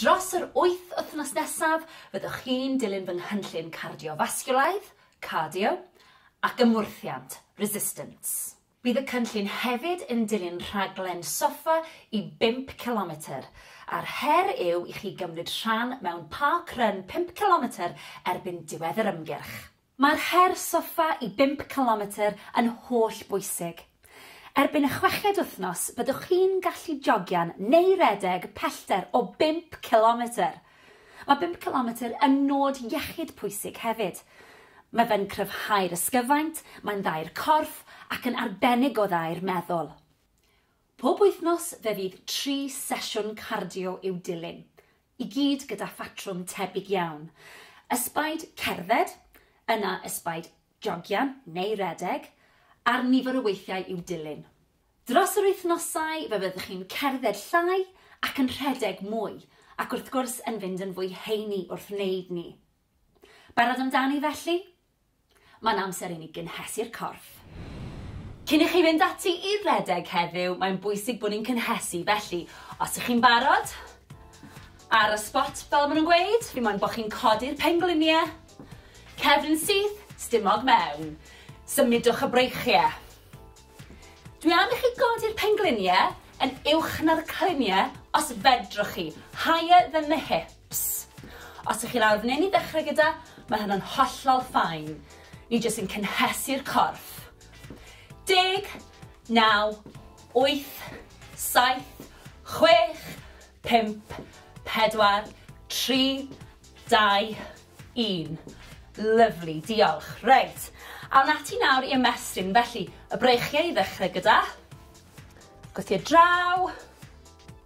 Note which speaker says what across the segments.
Speaker 1: Dros yr wyth wythnos nesaf, fyddwch chi'n dilyn fy nghynllun cardiofasgiwlaidd, cardio, ac ymwrthiant, resistance. Bydd y cynllun hefyd yn dilyn rhaglen soffa i bump cilometr, a'r her yw i chi gymryd rhan mewn park run pump cilometr erbyn diwedd yr ymgyrch. Mae'r her soffa i bump cilometr yn holl bwysig. Erbyn y chweched wythnos byddwch chi'n gallu jogio'n neu redeg pellter o bump cilometr! Mae bump cilometr yn nod iechyd pwysig hefyd. Mae fe'n cryfhau'r ysgyfaint, mae'n dda i'r corff ac yn arbennig o dda i'r meddwl. Pob wythnos fe fydd tri sesiwn cardio i'w dilyn. i gyd gyda phatrwm tebyg iawn, ysbaid cerdded, yna ysbaid jogio neu redeg, a'r nifer o weithiau i'w dilyn. Dros yr wythnosau fe fyddwch chi'n cerdded llai ac yn rhedeg mwy, ac wrth gwrs yn fynd yn fwy heini wrth wneud ni. Barod amdani felly? Mae'n amser i ni gynhesu'r corff. Cyn i chi fynd ati i redeg heddiw, mae'n bwysig bod ni'n cynhesu, felly os ych chi'n barod, ar y spot fel maen nhw'n gweud, fi moyn bod chi'n codi'r pengliniau, cefn syth, stumog mewn, symudwch y breichiau. Dwi am i chi godi'r pengliniau yn uwch na'r cliniau os fedrwch chi, higher than the hip. Ps. Os ych chi lawr f'nyn i ddechrau gyda, mae hynna'n hollol fine. Ni jyst yn cynhesu'r corff. Deg, naw, wyth, saith, chwech, pump, pedwar, tri, dau, un. Lyfli, diolch. Reit, awn ati nawr i ymestyn. Felly, y breichiau i ddechrau gyda. Gwthio draw.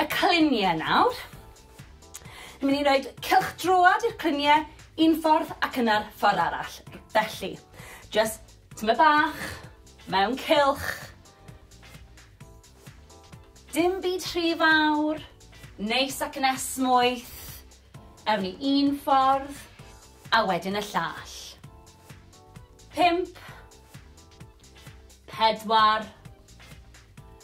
Speaker 1: y clunie nawr. Ni'n mynd i roed cylch droad i'r clunie un ffordd ac yna'r ffordd arall. Felly, just tyma bach, mewn cylch. Dim byd rhy fawr, neis ac yn esmwyth. Ewn ni un ffordd, a wedyn y llall. Pimp, pedwar,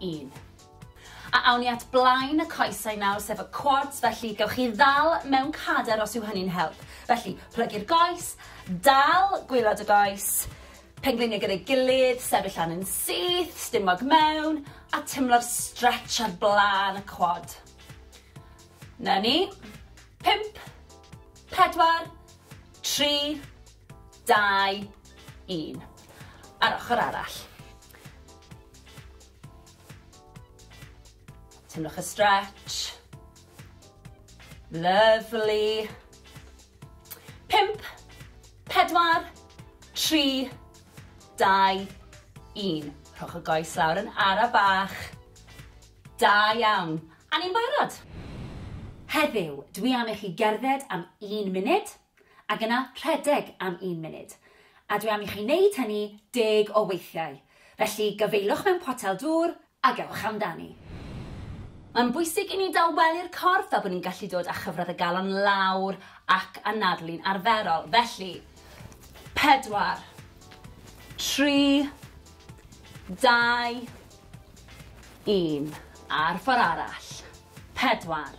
Speaker 1: un. A awn ni at blaen y coesau nawr, sef y quads, felly gewch chi ddal mewn cader os yw hynny'n help. Felly, plygu'r goes, dal gwylod y goes, pengliniau gyda'i gilydd, sefyll lan yn syth, stumog mewn, a timlo'r stretch ar blaen y quad. Na ni. Pimp, pedwar, tri, dau, un. A'r ochr arall. Teimlwch y stretch. Lovely. Pimp, pedwar, tri, dau, un. Rhowch y goes lawr yn ara bach. Da iawn. A ni'n barod. Heddiw, dwi am i chi gerdded am un munud. Ac yna rhedeg am un munud. A dwi am i chi wneud hynny deg o weithiau. Felly, gafaelwch mewn potel dŵr a gewch amdani. Mae'n bwysig i ni dawelu'r corff fel bod ni'n gallu dod â chyfradd y galon lawr ac anadlu'n arferol. Felly, pedwar, tri, dau, un. A'r ffordd arall. Pedwar.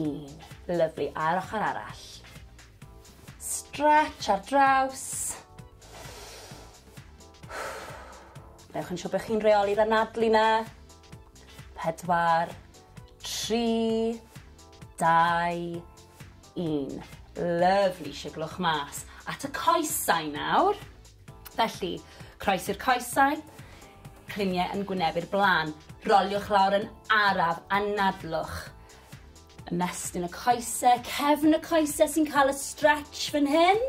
Speaker 1: Un. Lyfli, a'r ochr arall. Stretch ar draws. Newch yn siŵr bod chi'n reoli'r anadlu na. Pedwar, tri, dau, un. Lyfli, siglwch mas. At y coesau nawr. Felly, croesi'r coesau, cliniau yn gwynebu'r blaen, roliwch lawr yn araf, anadlwch. Ymestyn y coesau, cefn y coesau sy'n cael y stretch fan hyn.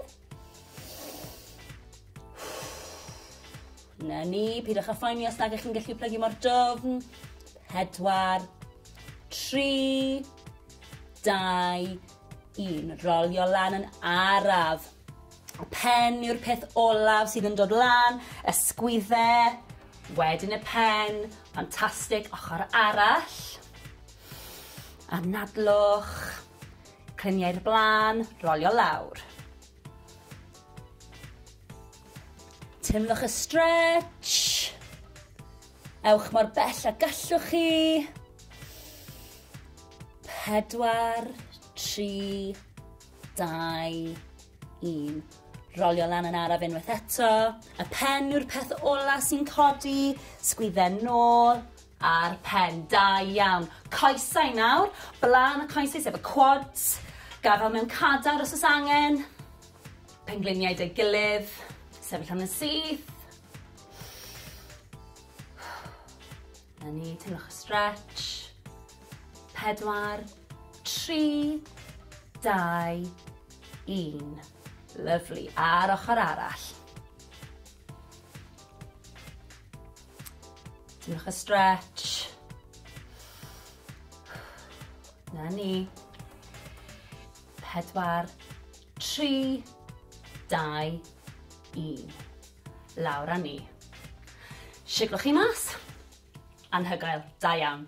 Speaker 1: Na ni, pidwch â phoeni os nag ych chi'n gallu plygu mor dofn. Pedwar, tri, dau, 1. Rolio lan yn araf. Pen yw'r peth olaf sydd yn dod lan, ysgwydde, wedyn y pen, ffantastig, ochr arall. Anadlwch, clyniau'r blaen, rolio lawr. Teimlwch y stretch. Ewch mor bell a gallwch chi. Pedwar, tri, dau, un. Rolio lan yn araf unwaith eto. Y pen yw'r peth ola sy'n codi. Sgwydden nôl a'r pen. Da iawn. Coesau nawr. Blaen y coesau sef y quads. Gafel mewn cadar os oes angen. Pengliniau dy gilydd. Sefyll am yn syth. Na ni, teimlwch y stretch. Pedwar, tri, dau, un. Lyflu. A'r ochr arall. Teimlwch y stretch. Na ni. Pedwar, Tri, dau, un. Lawr â ni. Siglwch chi mas. Anhygoel. Da iawn.